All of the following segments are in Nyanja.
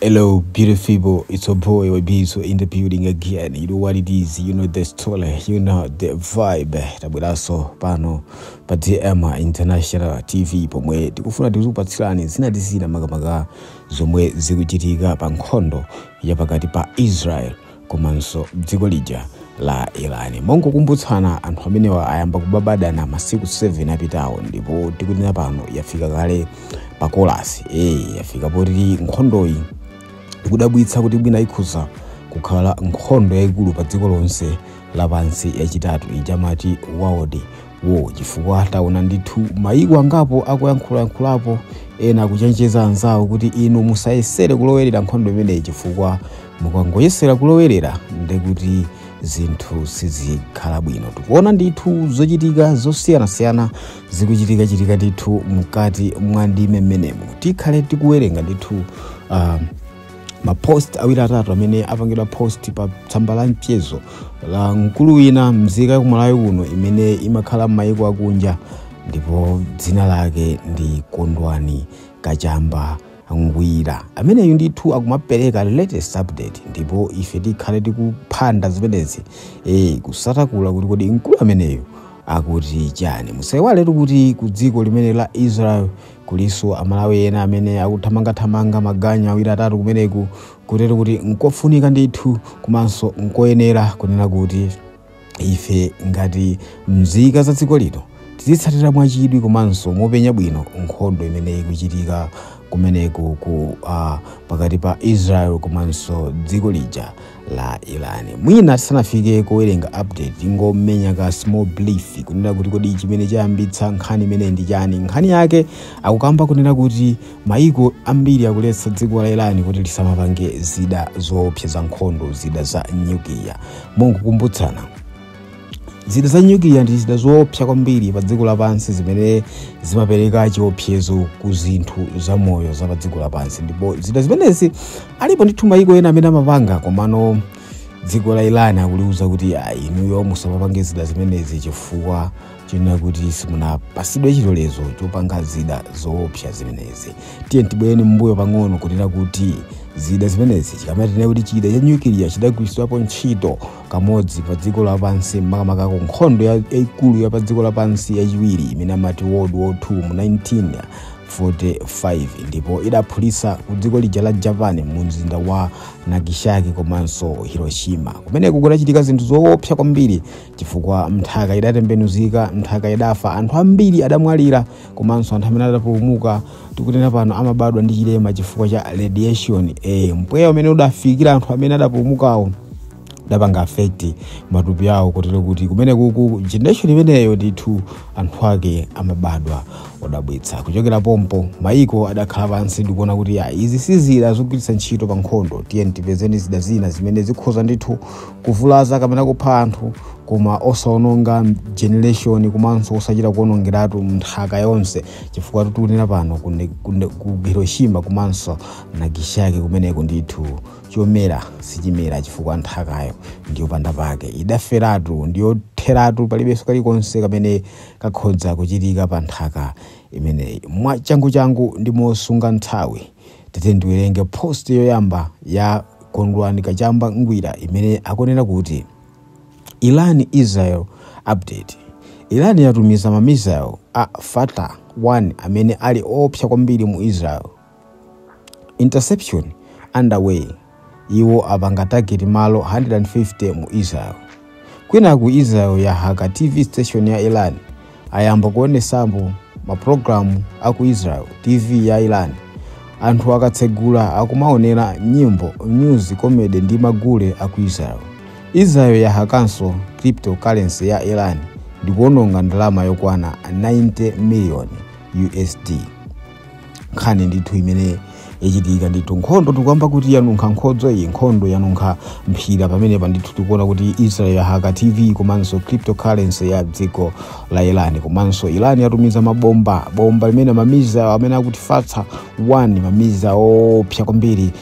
Hello, beautiful people. It's your boy Wabizo in the building again. You know what it is. You know the story. You know the vibe. Tabweranso pano pa DM International TV pomwe tikufuna tizikupatsirani zina ndi zina makamaka zomwe zikuchitika pa nkhondo ya pakati pa Israel komanso dziko lija la Iran. Mongokumbutsana anthu amenewa ayamba kubadana masiku 7 apitawo ndipo tikunena pano yafika kale pa kolasi eh yafika poti nkhondoyi ikudabwitsa kuti mwina ikhoza kukhala nkhondo yayikulu pa dziko lonse lapansi yachitatu ija amati world war chifukwa taona ndithu mayiko angapo akuyankhulayankhulapo ena akuchenjeza anzawo kuti inu musayesere kulowerera nkhondo imeneyi chifukwa mukangoyesera kulowerera ndekuti zinthu sizikhala bwino tikuona ndithu zochitika zosiyanasiyana zikuchitikachitika ndithu mkati mwa ndime mmenemo tikhale tikuwerenga ndithu uh, mapost awiri atatu amene apangidwa post pa tsamba la mchezo la mkulu wina mzika ya ku Malawi kuno imene imakhala m'mayiko akunja ndipo dzina lake ndi Kondwani Kachamba Ngwira ameneyu ndithu akumapereka latest update ndipo ife tikhale tikuphanda zimenezi e, kusanthula kuti kodi mkulu ameneyu akuti chani musaiwaletu kuti ku dziko limene la Israel Kulinso Amalawi ena amene akuthamangathamanga maganyu awiri atatu kumeneku kotero kuti nkofunika ndithu komanso nkoyenera kunena kuti ife ngati mzika za dziko lino tizitsatira mwachidwi komanso mopenya bwino nkhondo imene ikuchitika kumeneku ku uh, pakati pa Israel komanso dziko lija la Iran mwina tisanafike kuwerenga update tingomenya ka small brief kunena kuti kodi chimene chayambitsa nkhani imeneyi ndi chani nkhani yake akukamba kunena kuti maiko ambiri akuletsa dziko la Iran kuti lisamapange zida zoopsa za nkhondo zida za nyukiliya mongokumbutsana zida za nyukiliya ndi zida zoopsa kwambiri pa dziko lapansi zimene zimapereka chiopsezo ku zinthu zamoyo za pa dziko lapansi ndipo zida zimenezi alipo ndithu mayiko ena amene amapanga komano dziko la Iran akuliuza kuti ah, inuyo musamapange zida zimenezi chifukwa chonena kuti simunapatsidwe chilolezo chopanga zida zoopsa zimenezi tiye tibwereni mbuyo pang'ono kunena kuti zida zimenezi chikamati kuti chida cha nyukiliya chidagwiritsidwapo ntchito kamodzi pa dziko lapansi makamaka ku nkhondo ya- yaikulu ya pa dziko lapansi yachiwiri imene amati World War 2 mu 1945 ndipo idaphulitsa ku dziko lija la Japan mu mzinda wa Nagasaki komanso Hiroshima kumeneko kudachitika zinthu zoopsa kwambiri chifukwa nthaka idatembenuzika nthaka idafa anthu ambiri adamwalira komanso anthu amene adapulumuka tikunena pano amabadwa ndi chilema chifukwa cha radiation mpweya umene udafikira anthu amene adapulumukawo udapanga affect matupi awo kotero kuti kumene kuku generation imeneyo ndithu anthu ake amabadwa odabwitsa kuchokera pompo maiko adakhala pansi ndikuona kuti ya izi sizida zogwiritsa ntchito pa nkhondo tiyeni tipezeni zida zina zimene zikhoza ndithu kuvulaza kapena kupha anthu koma osaononga generation komanso osachita kuonongeratu nthaka yonse chifukwa tikunena pano ku ne- ku ne- ku hiroshima komanso nagasaki kumeneko ndithu chomera sichimera chifukwa nthakayo ndiyopanda pake idaferatu ndiyotheratu palibenso kalikonse kamene kakhoza kuchitika pa nthaka imeneyi mwachanguchangu ndi mosunga nthawi Tate ndiwerenge post yoyamba ya Kondwani Kachamba Ngwira imene akunena kuti Iran Israel update. Iran yatumiza ma missile a Fatah 1 amene ali oopsa kwambiri mu Israel. Interception underway. Iwo apanga target malo 150 mu Israel. Kwinaku Israel yahaka TV station ya Iran ayamba kuonetsamo ma program a ku Israel TV ya Iran. Anthu akatsegula akumaonera nyimbo, news, comedy ndi magule a ku Israel. Israel yahakanso cryptocurrency ya Iran ndikuononga ndalama yokwana 90 million USD. nkhani ndithu imene yachitika ndithu nkhondo tikukamba kuti yanunkha nkhodzo iyi nkhondo yanunkha mphira pamenepa ndithu tikuona kuti israel yahaka tv komanso cryptocurrency ya dziko la iran komanso iran yatumiza mabomba bomba limene ma missile amene akuti fatah 1 ma missile oopsa kwambiri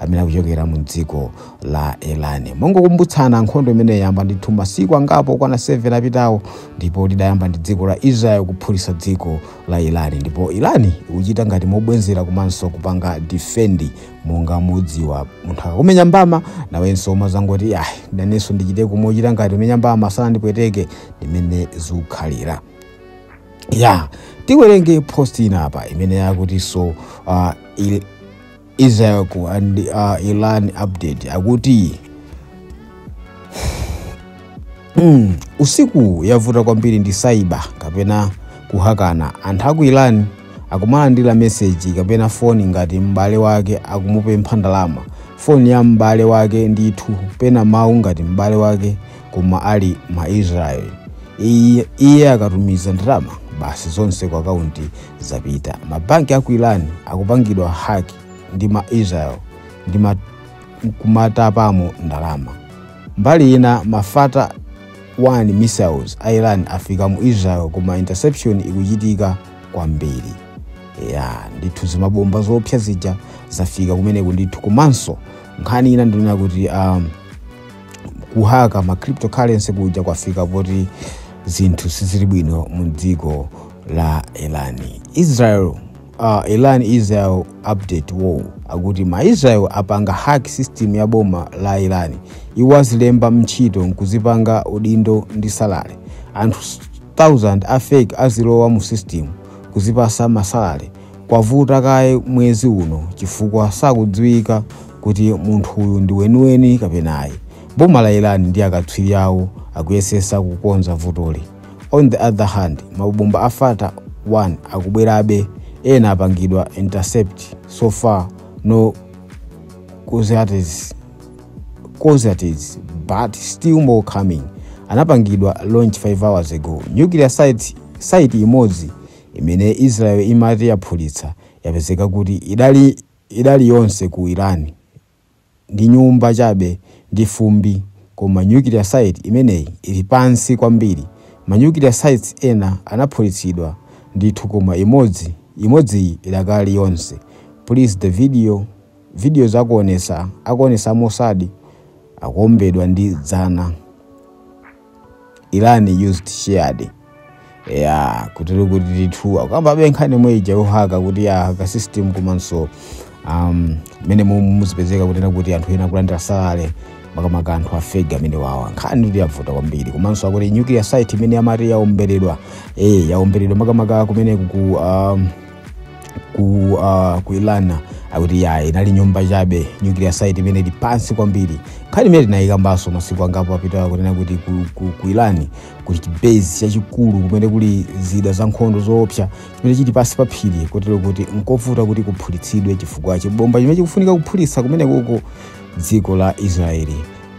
amene akuchokera mu dziko la iran mongokumbutsana nkhondo imene yayamba ndithu masiku angapo okwana 7 apitawo ndipo lidayamba ndi dziko la israel kuphulitsa dziko la iran ndipo iran ikuchita ngati mobwezera komanso kupanga defend monga mudziwa munthu akakumenya mbama nawenso umazangoti ayi nanenso ndichite kumochita ngati umenya mbama sana ndipweteke ndimene zikukhalira ya tiwerenge post ina apa imene yakutinso uh, il- Israel and uh, Iran update akuti mm, usiku yavuta kwambiri ndi cyber kapena kuhakana anthu aku Iran akumalandira meseji kapena foni ngati m'bale wake akumupempha ndalama foni ya m'bale wake ndithu pena mawu ngati m'bale wake koma ali ma Israel iye, iye akatumiza ndalama basi zonse ku akaunti zapita mabanki aku iran akupangidwa hack ndi ma israel ndi kumatapamo ndalama mbali ina ma fattah 1 missiles a iran afika mu israel koma interception ikuchitika kwambiri ya ndithu zimabomba zoopsa zija zafika kumeneku ndithu komanso nkhani ina ndinena kuti um, kuhaka ma cryptocurrency kuja kwafika poti zinthu sizili bwino mu dziko la iran israel uh, iran israel update war akuti ma israel apanga hack system ya boma la iran iwo azilemba m'ntchito nkuzipanga udindo ndi salary anthu 1000 a fake azilowa mu system kuzipasa ma salary kwavuta kaye mwezi uno chifukwa sakudziwika kuti munthu uyu ndi weniweni kapena ayi boma la iran ndi akatswiri awo akuyesesa kukonza vutoli On the other hand, mabomba a Fattah 1 akubwerabe, ena apangidwa intercept so far no casualties casualties but still more coming. Anapangidwa launch 5 hours ago. Nuclear site, site imodzi imene Israel imati yaphulitsa yapezeka kuti idakali, idakali yonse ku Iran. ndi nyumba chabe ndi fumbi, koma nuclear site imeneyi ili pansi kwambiri. Ma nuclear sites ena anaphulitsidwa ndithu koma imodzi, imodziyi idakali yonse. Plus the video, videos akuonesa, akuonesa a Mossad akuombedwa ndi dzana. iran used shahed ya kutero kuti ndithu akukambabe nkhani yomwe ija yohaka kuti ahaka system komanso um, mene muzipezeka kunena kuti anthu ena kulandira salary makamaka anthu a fake amenewawa nkhani akuti yavuta kwambiri komanso akuti nuclear site imene amati yaomberedwa eh yaomberedwa makamaka kumene ku um, ku uh, ku iran akuti ya inali nyumba chabe nuclear site imeneyi ili pansi kwambiri nkhani imene tinayikambanso masiku angapo apitawa kunena kuti ku, ku, ku iran kuli chibase chachikulu chimene kuli zida za nkhondo zoopsa chimene chili pansi pa phiri kotero kuti nkovuta kuti kuphulitsidwe chifukwa chibomba chimene chikufunika kuphulitsa kumenekoko dziko la israeli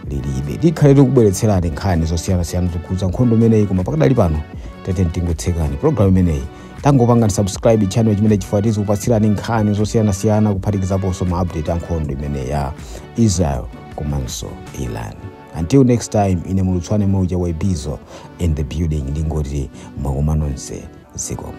lilibe tikhale tikubweretserani nkhani zosiyanasiyana zokhudza nkhondo imeneyi koma pakadali pano tete ndingotseka programu imeneyi tangopangani subscribe channel chimenechi chifukwa tizikupatsirani nkhani zosiyanasiyana kuphatikizaponso ma update a nkhondo imeneyi ya israel komanso iran until next time ine mulutswane mauja wa ibizo in the building ndingoti mwakoma nonse zikomo